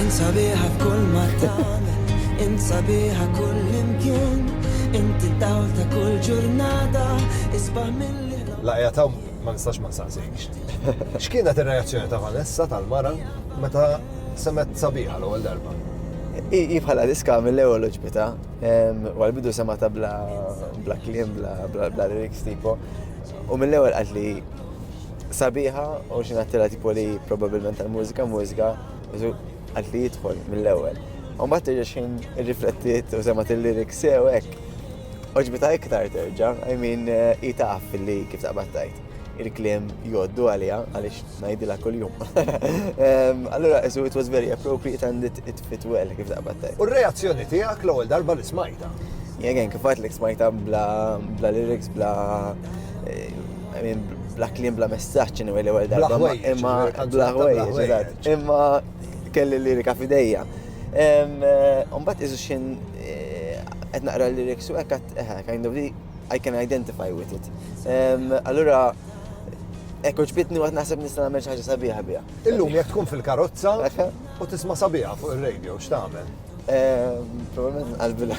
Int sabiħa f'kull ma tagħmel, int sabiħa kullimkien, inti d-dawl ta' kull ġurnata, isbaħ milli L-għajjat hawn ma nistax ma nsaqsikx. X'kienet ir-reazzjoni ta' Vanessa tal-mara meta semgħet Sabiħa l-ewwel darba? Hi bħala diska mill-ewwel għoġbitha. Wara l-bidu semgħetha bla kliem, bla lyrics tipo. U mill-ewwel qalt li Sabiħa u xi ngħattila tipo li probabbilment tal-mużika mużika għalt li jidħol mill-ewwel. U mbagħad terġa' xejn irriflettiet u semgħet il-lyrics sew hekk. Oġbita iktar terġa', I mean hi taf li kif taqbad tajt. Il-kliem jgħoddu għaliha għaliex ngħidilha kuljum. Allura isu it was very appropriate and it, it fit well kif taqbad tajt. U r-reazzjoni tiegħek l-ewwel darba li smajta? Jegen, kif għatlek smajta bla, bla lyrics, bla Bla kliem, bla messaġġ, anyway, l-ewwel darba. Bla ħwejjeġ, imma bla ħwejjeġ, imma kelli l-lirika fidejja. Umbat eh, iżu xin eh, qed naqra l-liriks u hekk eh, kind of I can identify with it. Allura Ek uġbitni għat naħseb nista' nagħmel ħaġa sabiħa biha. Illum jekk tkun fil-karozza u tisma' sabiħa fuq ir-radio x'tagħmel? Probabilment nqalbi l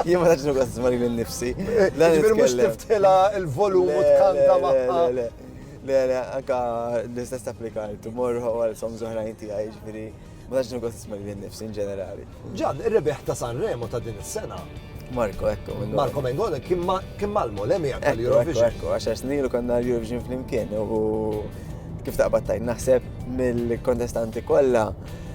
Jien ma taċnu għazz mari minn nifsi. Ġbir mux tiftila il-volum u tkanta maħħa. Le, le, anka l-istess applika l-tumor u għal som zoħrajn tijaj, ġbiri, ma taċnu għazz mari minn nifsi in ġenerali. Ġan, il-rebeħ ta' Sanremo ta' din is-sena. Marko, ekku. Marko Mengone, kim malmu, l-emi għak l-Eurovision. Ekku, għaxar snilu konna l-Eurovision fl-imkien u kif taqbad tajn naħseb mill-kontestanti kolla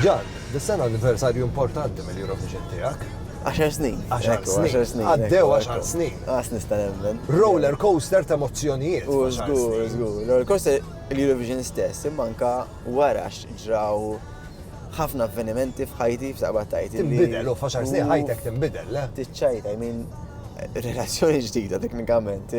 Ġan, dis-sena anniversarju importanti mill-Eurovision tiegħek. 10 snin. 10 snin. Għaddew 10 snin. Għas nista' nemmen. Roller coaster ta' emozzjonijiet. U żgur, żgur. Roller coaster l-Eurovision stess, imma anka Wara ġraw ħafna avvenimenti f'ħajti f'taqbad tgħid. Tinbidel u f'għaxar snin ħajtek tinbidel, le? Tiċċajt, I mean, relazzjoni ġdida teknikament,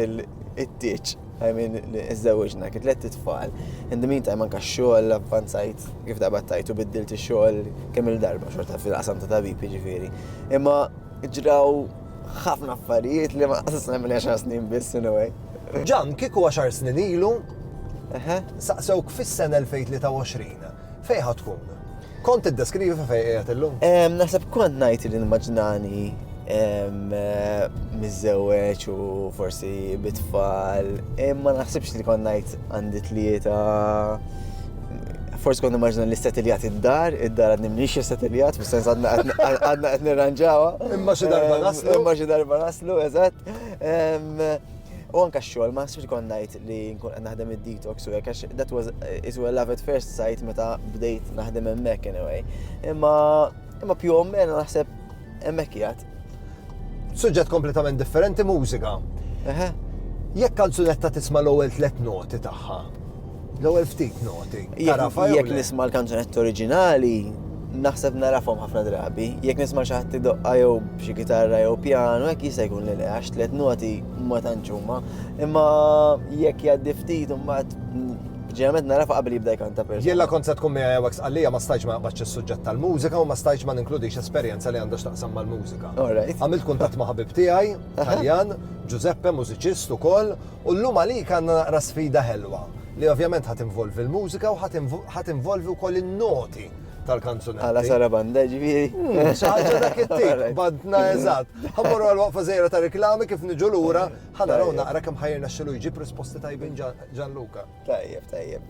it-tieġ, I mean, iżżewġna, kien tliet tfal. In the meantime anka x-xogħol avvanzajt kif taqbad tgħid u biddilt ix-xogħol kemm il-darba xorta fil-qasam ta' tabib jiġifieri. Imma ġraw ħafna affarijiet li ma qasasna mill-għaxar snin biss in a way. Ġan, kieku għaxar snin ilu, Saqsewk fis-sena 2023 fejn ħa tkun? Kont tiddeskrivi fejn qiegħed illum? Naħseb kont ngħid li nimmaġinani miżżewweġ u forsi bit-tfal, imma naħsibx li kont ngħid għandi tlieta forsi kont immaġna li settiljat id-dar, id-dar għadni mniex settiljat, fis sens għadna qed nirranġawa. Imma xi darba naslu. Imma xi darba naslu, eżatt. U anka xogħol, ma xogħol kont ngħid li nkun qed naħdem id-detox u hekk għax that was is well love at first sight meta bdejt naħdem hemmhekk anyway. Imma imma più o meno naħseb hemmhekk jgħat. Suġġett kompletament differenti mużika. Jekk kanzunetta tisma' l-ewwel tliet noti tagħha, l-ewwel ftit noti. Jekk nisma' l-kanzunetta oriġinali, Naħseb nagħrafhom ħafna drabi. Jekk nisma' xi ħadd idoqqa jew b'xi kitarra jew pjanu hekk jista' jkun li le għax tliet noti ma tantx huma. Imma jekk jgħaddi ftit imbagħad ġeneralment nagħrafha qabel jibda jkanta persuna. Jien la kont se tkun miegħi hawnhekk Sqallija ma stajtx ma naqbadx is-suġġett tal-mużika u ma stajtx ma ninkludix esperjenza li għandha x'taqsam mal-mużika. Għamilt kuntatt ma' ħabib tiegħi, Taljan, Giuseppe, mużiċist ukoll, U llum għalik għandna naqra sfida ħelwa, li ovvjament ħa tinvolvi l-mużika u ħa tinvolvi wkoll in-noti tal-kanzunetti. Għala sarabanda ġifieri. Hmm, xi ħaġa dak it-tip, bandna eżatt. Ħammorru għal waqfa żejra ta' reklami kif niġu lura, ħa naraw naqra kemm ħajrna xilu jġib risposti tajbin Ġanluka. Tajjeb, tajjeb.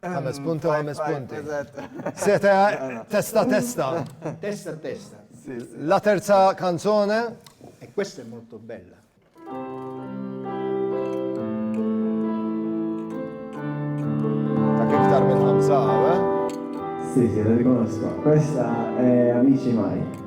Ħames punti u ħames punti. Seta testa testa. Testa testa. La terza canzone. E questa è molto bella. Ta' kif tar minn ħamsa, eh? Sì, sì, la riconosco. Questa è Amici Mai.